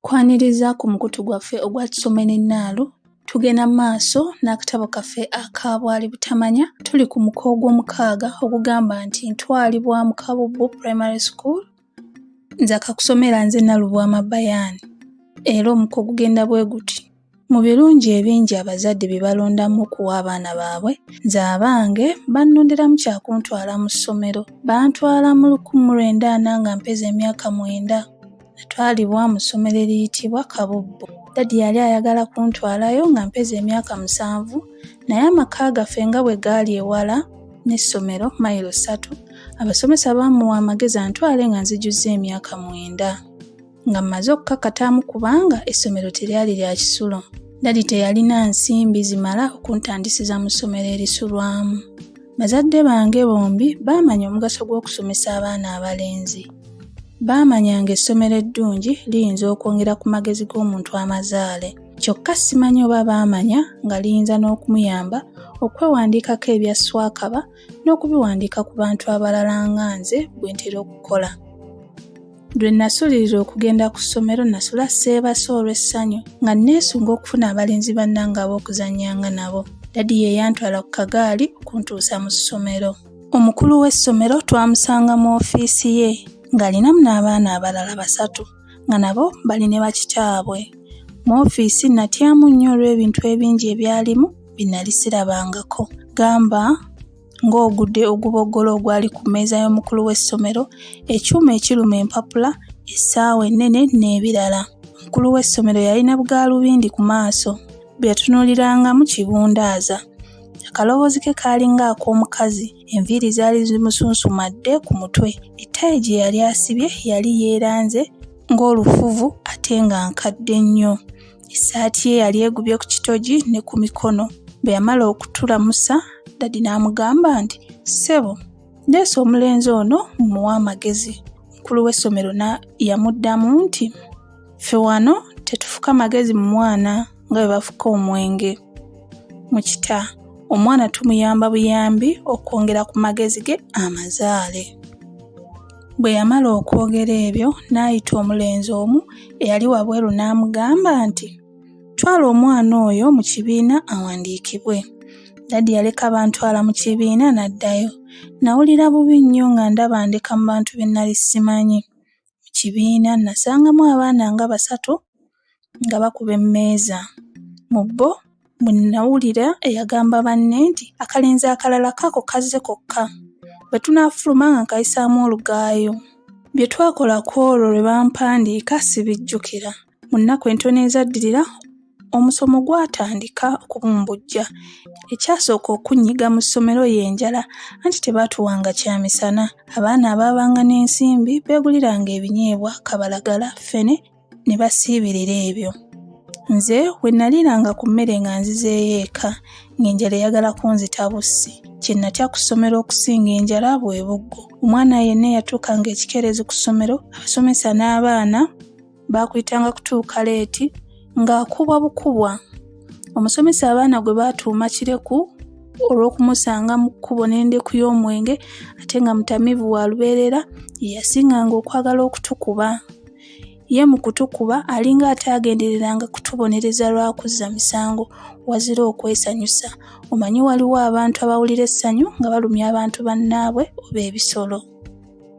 Kwaniriza ku mukutu gwaffe ogwa Tusome n'Ennaalo, tugenda mu maaso n'akatabo kaffe aka Bwali Butamanya. Tuli ku muko gw'omukaaga ogugamba nti Ntwalibwa mu Kabubbu Primary School. Nze akakusomera nze Nalubwama Bayaan. Era omuko gugenda bwe guti. Mu birungi ebingi abazadde bye balondamu okuwa abaana baabwe, nze abange bannonderamu kya kuntwala mu ssomero. Bantwala mu lukumi mu lwenda ana nga mpeza emyaka mwenda. Natwalibwa mu ssomero eriyitibwa Kabubbu. Dadi yali ayagala kuntwalayo nga mpeza emyaka musanvu naye amaka gaffe nga bwe gaali ewala n'essomero mayiro ssatu, abasomesa baamuwa amagezi antwale nga nzijuzza emyaka mwenda. nga mmaze okukakataamu kubanga essomero teryali lya kisulo. Dadi teyalina nsimbi zimala okuntandisiza mu ssomero erisulwamu. Bazadde bange bombi baamanya omugaso gw'okusomesa abaana abalenzi. Baamanya ng'essomero eddungi liyinza okwongera ku magezi g'omuntu amazaale. Kyokka simanyi oba baamanya nga liyinza n'okumuyamba okwewandiikako ebya swakaba n'okubiwandiika ku bantu abalala nga nze bwe ntera okukola. Lwe nasulirira okugenda ku ssomero nasula seebase olw'essanyu nga neesunga okufuna abalenzi bannange ab'okuzannyanga nabo. Dadi ye yantwala ku kagaali okuntuusa mu ssomero. Omukulu w'essomero twamusanga mu ofiisi ye ng'alinamu n'abaana abalala basatu nga nabo bali ne bakitaabwe. Mu ofiisi natyamu nnyo olw'ebintu ebingi ebyalimu bye nali sirabangako gamba ng'ogude oguboggolo ogwali ku mmeeza y'omukulu w'essomero, ekyuma ekiruma empapula, essaawa ennene n'ebirala. Omukulu w'essomero yalina bugaalubindi ku maaso bwe yatunuulirangamu kibundaaza. Akaloboozi ke kaalinga ak'omukazi, enviiri zaali zimusunsumadde ku mutwe, ettaayi gye yali asibye yali yeeranze ng'olufuvu ate nga nkadde nnyo. essaati ye yali egubye ku kitogi ne ku mikono bwe yamala okutulamusa dadi n'amugamba nti ssebo ndeese omulenzi ono mumuwa amagezi mukulu w'essomero yamuddamu nti ffe wano tetufuka magezi mu mwana nga bwe bafuka omwenge mu kita omwana tumuyamba buyambi okwongera ku magezi ge amazaale Bwe yamala okwogera ebyo, n'ayita omulenzi omu eyali wabweru n'amugamba nti, Twala omwana oyo mu kibiina awandiikibwe. Dadi yaleka bantwala mu kibiina n'addayo. Nawulira bubi nnyo nga ndaba ndeka mu bantu be nnali simanyi. Mu kibiina nnasangamu abaana nga basatu nga bakuba emmeeza. Mu bo mwe nnawulira eyagamba banne nti, Akalenzi akalala kaako kazze kokka. Bwe tunaafuluma nga nkayisaamu olugaayu. Bye twakola ku olwo lwe bampandiika sibijjukira. Mu nnaku entono ezaddirira, omusomo gwatandika okubumbujja. Ekyasooka okunnyiga mu ssomero ye njala, anti tebaatuwanga kya misana. Abaana abaabanga n'ensimbi beeguliranga ebinyeebwa, kabalagala, ffene, ne basiibirira ebyo nze we naliranga ku mmere nga nzizeeyo eka ng'enjala eyagala kunzita bussi kye natya ku ssomero okusinga enjala bwe buggo omwana yenna eyatuukanga ekikeerezi ku ssomero abasomesa n'abaana baakuyitanga kutuuka leeti ng'akubwa bukubwa omusomesa abaana gwe baatuuma kireku olw'okumusanga mu kkubo n'endeku y'omwenge ate nga mutamivu wa lubeerera ye yasinganga okwagala okutukuba Ye mu kutukuba alinga ataagendereranga kutubonereza lwa kuzza misango wazira okwesanyusa. Omanyi waliwo abantu abawulira essanyu nga balumya abantu bannaabwe oba ebisolo.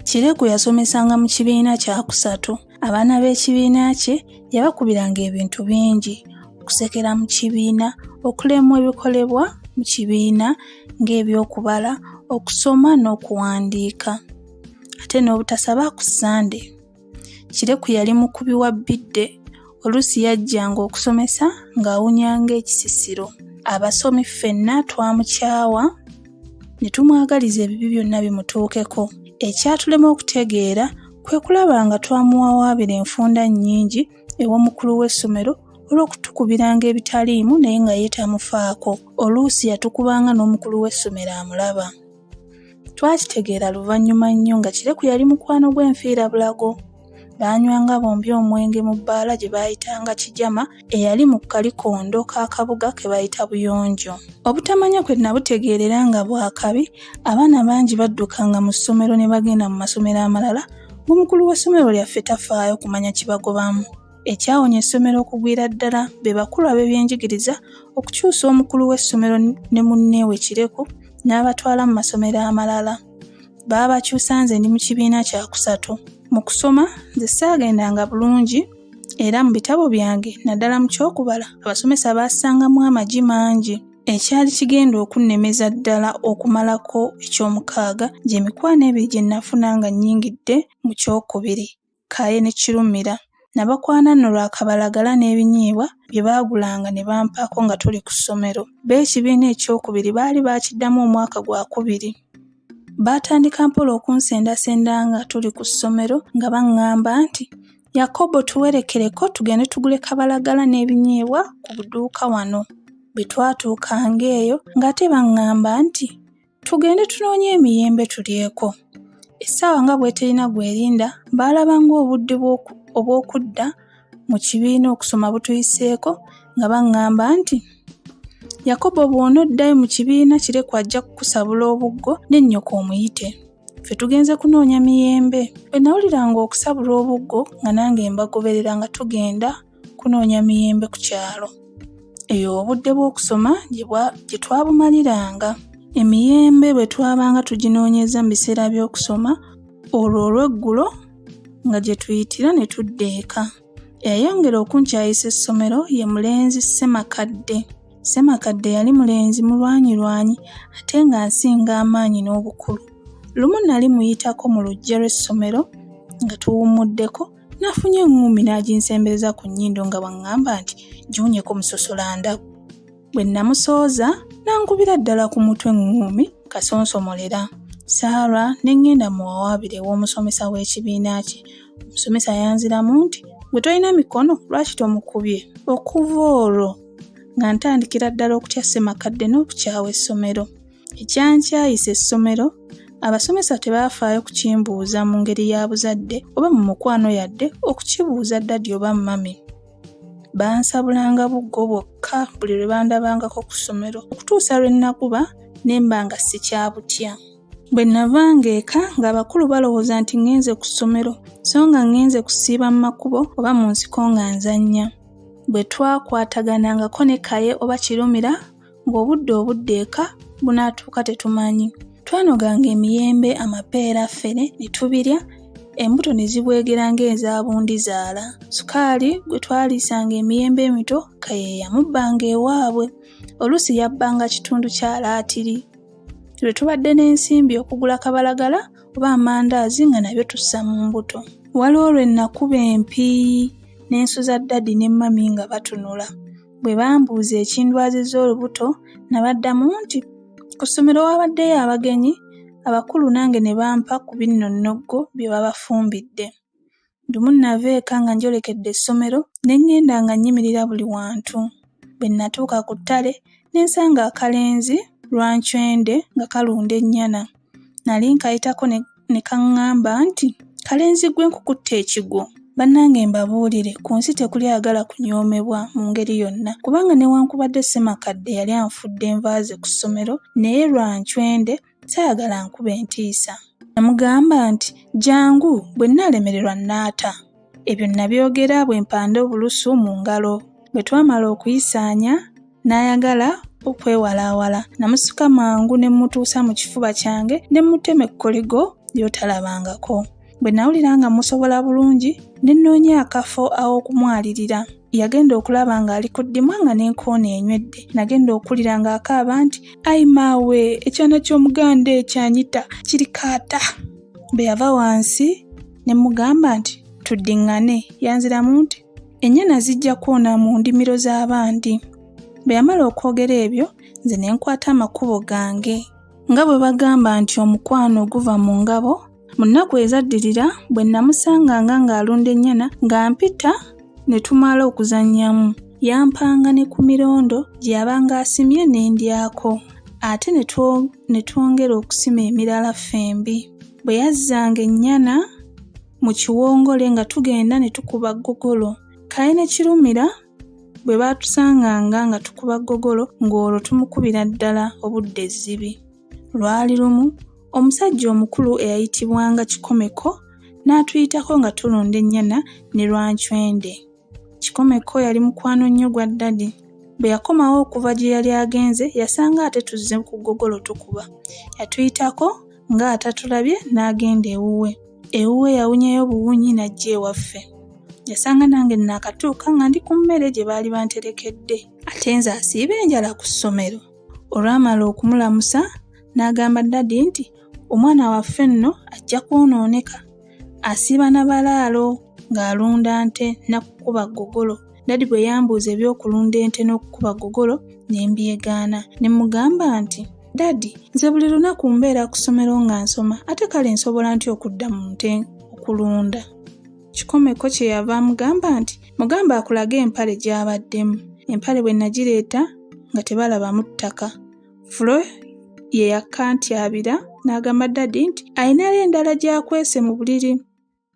Kireku yasomesanga mu kibiina kyakusatu. Abaana b'ekibiina kye yabakubiranga ebintu bingi, okusekera mu kibiina, okulemwa ebikolebwa mu kibiina ng'ebyokubala, okusoma n'okuwandiika ate n'obutasaba ku Ssande. Kireku yali mukubi wa bbidde, oluusi yajjanga okusomesa ng'awunya ng'ekisisiro. Abasomi ffenna twamukyawa ne tumwagaliza ebibi byonna bimutuukeko. Ekyatulema okutegeera kwe kulaba nga twamuwawaabira enfunda nnyingi ew'omukulu w'essomero olw'okutukubiranga ebitaliimu naye nga ye tamufaako. Oluusi yatukubanga n'omukulu w'essomero amulaba. Twakitegeera luvannyuma nnyo nga Kireku yali mukwano gw'enfiirabulago. Baanywanga bombi omwenge mu bbaala gye baayitanga Kijama eyali mu kalikondo k'akabuga ke bayita Buyonjo. Obutamanya kwe nabutegeerera nga bwa kabi, abaana bangi baddukanga mu ssomero ne bagenda mu masomero amalala ng'omukulu w'essomero lyaffe tafaayo kumanya kibagobamu. Ekyawonya essomero okugwira ddala be bakulu ab'ebyenjigiriza okukyusa omukulu w'essomero ne munne we Kireku n'abatwala mu masomero amalala. Baabakyusa nze ndi mu kibiina kya kusatu. Mu kusoma nze saagendanga bulungi era mu bitabo byange naddala mu ky'okubala abasomesa baasangamu amagi mangi ekyali kigenda okunnemeza ddala okumalako eky'omukaaga gy'emikwano ebiri gye nafuna nga nnyingidde mu ky'okubiri. Kaye ne Kirumira nabakwana nno lwa kabalagala n'ebinyiibwa bye baagulanga ne bampaako nga tuli ku ssomero. B'ekibiina ekyokubiri baali baakiddamu omwaka gwa kubiri. Baatandika mpola okunsendasenda nga tuli ku ssomero nga bang'amba nti, Yakobo tuwerekereko tugende tugule kabalagala n'ebinyiibwa ku buduuka wano. Bwe twatuukanga eyo ng'ate bang'amba nti, Tugende tunoonye emiyembe tulyeko. Essaawa nga bw'eterina gw'erinda, baalaba ng'obudde obw'okudda mu kibiina okusoma butuyiseeko nga baŋŋamba nti, Yakobo bw'onoddayo mu kibiina kireku ajja kukusabula obuggo ne nnyoko omuyite. Ffe tugenze kunoonya miyembe. Bwe nawuliranga okusabula obuggo nga nange mbagoberera nga tugenda kunoonya miyembe ku kyalo. Eyo obudde bw'okusoma gye twabumaliranga. Emiyembe bwe twabanga tuginoonyeza mu biseera by'okusoma, olwo olw'eggulo nga gye tuyitira ne tudda eka. Eyayongera okunkyayisa essomero ye mulenzi Ssemakadde. Ssemakadde yali mulenzi mulwanyirwanyi ate nga nsinga amaanyi n'obukulu. Lumu nali muyitako mu luggya lw'essomero nga tuwummuddeko Nafunye eŋŋumbi n'aginsembereza ku nnyindo nga bw'aŋŋamba nti giwunyeko musosola ndabu. Bwe namusooza n'ankubira ddala ku mutwe eŋŋuumi kasonsomolera. Sarah ne ŋŋenda mu wawaabire ew'omusomesa w'ekibiina kye. Omusomesa yanziramu nti gwe tolina mikono lwaki tomukubye? Okuva olwo nga ntandikira ddala okutya ssemakadde n'okukyawa essomero. Ekyankyayisa essomero abasomesa tebaafaayo kukimbuuza mu ngeri ya buzadde oba mu mukwano yadde okukibuuza ddadi oba mami. Bansabulanga buggo bwokka buli lwe bandabangako ku ssomero okutuusa lwe nakuba ne mba nga sikyabutya. Bwe navanga eka ng'abakulu balowooza nti ŋŋenze ku ssomero so nga ŋŋenze kusiiba mu makubo oba mu nsiko nga nzannya. Bwe twakwataganangako ne Kaye oba Kirumira ng'obudde obudde eka bunaatuuka tetumanyi twanoganga emiyembe amapeera ffene ne tubirya embuto ne zibwegera ng'ezabundi zaala sukaali gwe twaliisanga emiyembe emito kayeeyamubbanga ewaabwe oluusi yabbanga kitundu kya laatiri lwe tubadde n'ensimbi okugula kabalagala oba amandaazi nga nabyo tussa mu mbuto waliwo lwe nakuba empiiyi n'ensuza ddadi ne mmami nga batunula Bwe bambuuza ekindwazizza olubuto nabaddamu nti, Ku ssomero waabaddeyo abagenyi abakulu nange ne bampa ku binno nnoggo bye babafumbidde. Lumu nava eka nga njolekedde essomero ne ng'enda nga nnyimirira buli wantu. Bwe natuuka ku ttale ne nsanga akalenzi lwancwende nga kalunda ennyana. Nali nkayitako ne kaŋŋamba nti, Kalenzi ggwe nkukutte ekigwo. Bannange mbabuulire, ku nsi tekuli ayagala kunyoomebwa mu ngeri yonna kubanga newankubadde Ssemakadde yali anfudde nva ze ku ssomero naye lwa ncwende saayagala ankube ntiisa. Namugamba nti, Jangu, bwe nnaalemererwa nnaata. Ebyo nabyogera bwe mpanda obulusu mu ngalo. Bwe twamala okuyisaanya, n'ayagala okwewalaawala. Namusika mangu ne mmutuusa mu kifuba kyange ne mmutema ekkoligo ly'otalabangako. Bwe nawulira nga musobola bulungi, ne nnoonya akafo aw'okumwalirira. Yagenda okulaba ng'ali ku ddimwa nga n'enkoona enywedde. Nagenda okuwulira ng'akaaba nti, Ai maawe, ekyana ky'Omuganda ekyo anyita kirikaata! Bwe yava wansi, ne mugamba nti tuddiŋŋane yanziramu nti ennyana zijja kwona mu ndimiro z'abandi bwe yamala okwogera ebyo nze ne nkwata amakubo gange nga bwe bagamba nti omukwano guva mu ngabo mu nnaku ezaddirira bwe nnamusanganga ng'alunda ennyana nga mpita ne tumala okuzannyamu yampanga ne ku mirondo gye yabanga asimye n'endyako ate ne twongera okusima emirala ffembi Bwe yazzanga ennyana mu kiwongole nga tugenda ne tukuba ggogolo. Kaye ne Kirumira bwe baatusanganga nga tukuba ggogolo ng'olwo tumukubira ddala obudde ezzibi. Lwali lumu omusajja omukulu eyayitibwanga Kikomeko n'atuyitako nga tulunda ennyana ne Lwancwende. Kikomeko yali mukwano nnyo gwa Ddadi. Bwe yakomawo okuva gye yali agenze yasanga ate tuzze ku ggogolo tukuba. Yatuyitako nga atatulabye n'agenda ewuwe. Ewuwe yawunyayo buwunyi n'ajja ewaffe. Yasanga nange nnaakatuuka nga ndi ku mmere gye baali banterekedde. Ate nze asiiba enjala ku ssomero. Olwamala okumulamusa n'agamba Ddadi nti, Omwana waffe nno ajja kwonooneka. asiiba na balaalo ng'alunda nte nakukuba ggogolo. Dadi bwe yambuuza eby'okulunda ente n'okukuba ggogolo ne mbyegaana ne mugamba nti Dadi, nze buli lunaku mbeera ku ssomero nga nsoma ate kale nsobola nti okudda mu nte okulunda. Kikomeko kye yava amugamba nti mugamba akulage empale gy'abaddemu. Empale bwe nagireeta nga tebalaba mu ttaka. Flo ye yakkantyabira n'agamba dadi nti alinayo endala gy'akwese mu buliri.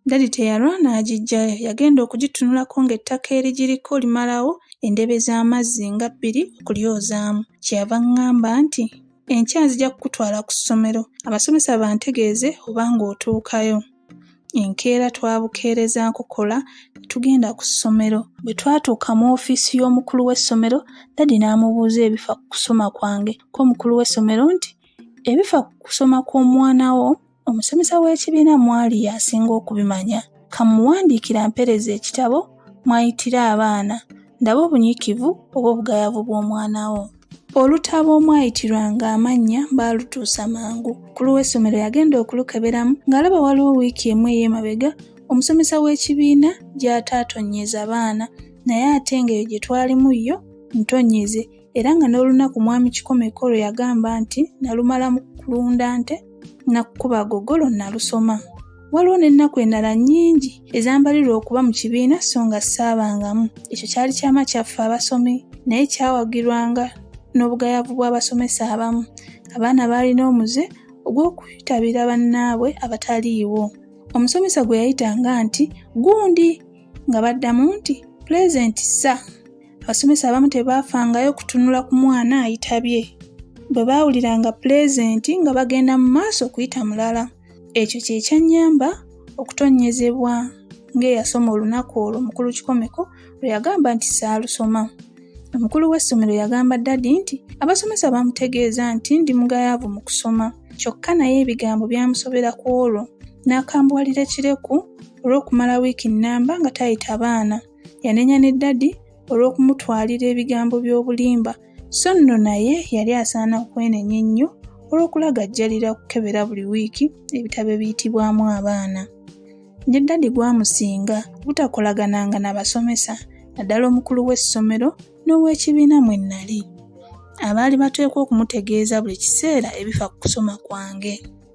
Dadi teyalwa n'agiggyayo, yagenda okugitunulako ng'ettaka erigiriko limalawo endebe z'amazzi nga bbiri okulyozaamu. Kye yava aŋŋamba nti, Enkya nzija kukutwala ku ssomero abasomesa bantegeeze oba ng'otuukayo. Enkeera twabukeereza nkokola ne tugenda ku ssomero. Bwe twatuuka mu ofiisi y'omukulu w'essomero, Dadi n'amubuuza ebifa ku kusoma kwange. Ko omukulu w'essomero nti, Ebifa ku kusoma kw'omwana wo, omusomesa w'ekibiina mwali y'asinga okubimanya. Ka mmuwandiikire ampeereze ekitabo mw'ayitira abaana ndabe obunyiikivu oba obugayavu bw'omwana wo. Olutabo omwayitirwanga amannya baalutuusa mangu. Ku lw'essomero yagenda okulukeberamu ng'alaba waliwo wiiki emu ey'emabega omusomesa w'ekibiina gy'ataatonnyeza baana naye ate ng'eyo gye twalimu yo ntonnyeze era nga n'olunaku mwami Kikomeko lwe yagamba nti nalumala mu kulunda nte nakukuba agogolo nalusoma waliwo n'ennaku endala nnyingi ezambalirwa okuba mu kibiina so nga saabangamu ekyo kyali kyama kyaffe abasomi naye kyawagirwanga n'obugayavu bw'abasomesa abamu abaana baalina omuze ogw'okutabira bannaabwe abataliiwo omusomesa gwe yayitanga nti gundi nga baddamu nti pulezenti ssa abasomesa abamu tebaafangayo kutunula ku mwana ayitabye bwe baawuliranga pulezenti nga bagenda mu maaso okuyita mulala ekyo kye kyannyamba okutonnyezebwa ng'eyasoma olunaku olwo mukulu kikomeko lwe yagamba nti saalusoma omukulu w'essomero yagamba dadi nti abasomesa bamutegeeza nti ndi mugayaavu mu kusoma kyokka naye ebigambo byamusobera ku olwo n'akambuwalira ekireku olw'okumala wiiki nnamba nga tayita baana. Yanenya ne ddadi olw'okumutwalira ebigambo by'obulimba, so nno naye yali asaana okwenenya ennyo olw'okulagajjalira okukebera buli wiiki ebitabo ebiyitibwamu abaana. Ne ddadi gwamusinga butakolagananga na basomesa naddala omukulu w'essomero n'ow'ekibiina mwe nnali. Abaali bateekwa okumutegeeza buli kiseera ebifa ku kusoma kwange.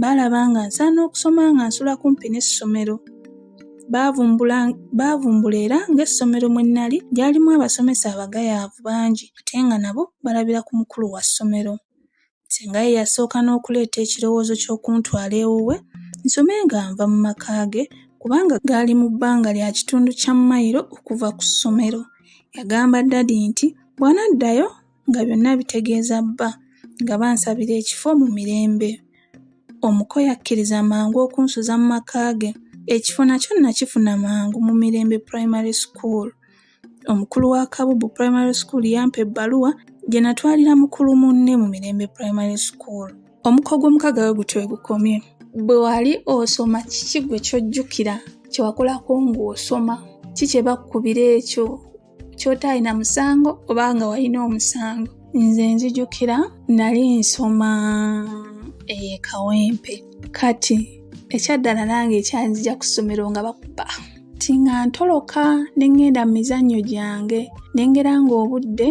Baalaba nga nsaana okusoma nga nsula kumpi n'essomero. Baavumbula baavumbula era ng'essomero mwe nnali lyalimu abasomesa abagayaavu bangi ate nga nabo balabira ku mukulu wa ssomero. Ssenga ye yasooka n'okuleeta ekirowoozo ky'okuntwala ewuwe nsome nga nva mu maka ge kubanga gaali mu bbanga lya kitundu kya mmayiro okuva ku ssomero. Yagamba Ddadi nti bw'anaddayo nga byonna abitegeeza bba nga bansabira ekifo mu mirembe. Omuko yakkiriza mangu okunsuza mu maka ge. Ekifo nakyo nakifuna mangu mu Mirembe Primary School. Omukulu wa Kabubu Primary School yampa ebbaluwa gye natwalira mukulu munne mu Mirembe Primary School. Omuko gw'omukaga we gutyo we gukomye. Bwe wali osoma kiki gwe kyojjukira kye wakolako ng'osoma? Ki kye bakkubira ekyo kyotaalina musango oba nga walina omusango nze nzijukira nali nsoma ekawempe eh, kati ekyaddala nange ekyanzija ku ssomero nga bakuba ti nga ntoloka ne ŋŋenda mu mizannyo gyange ne ngera ng'obudde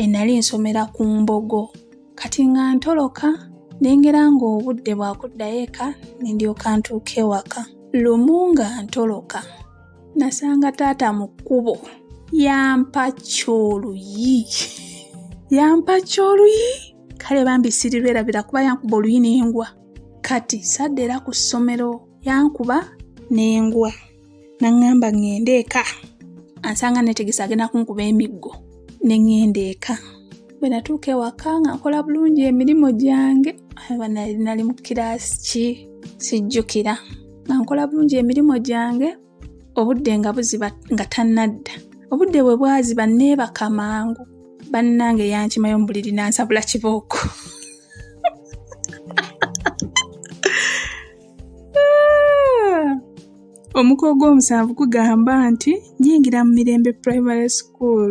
enali eh, nsomera ku mbogo kati nga ntoloka ne ngera ng'obudde bwakuddayo eka ne ndyoka ntuuka ewaka lumu nga ntoloka nasanga taata mu kkubo yampa kyoluyi yampa kyoluyi kale bambi siriberabira kuba yankuba oluyi nengwa kati sadde era ku ssomero yankuba nengwa naŋŋamba ŋŋende eka ansanga netegesa agenda kunkuba emiggo ne ŋŋenda eka bwe natuuka ewaka nga nkola bulungi emirimu gyange nali mu kiraasi ki sijjukira nga nkola bulungi emirimu gyange obudde nga buziba nga tannadda obudde bwe bwaziba neebaka mangu bannange yankimayo mu buliri nansabula kibooko omuko gw'omusanvu gugamba nti nyingira mu mirembe primary school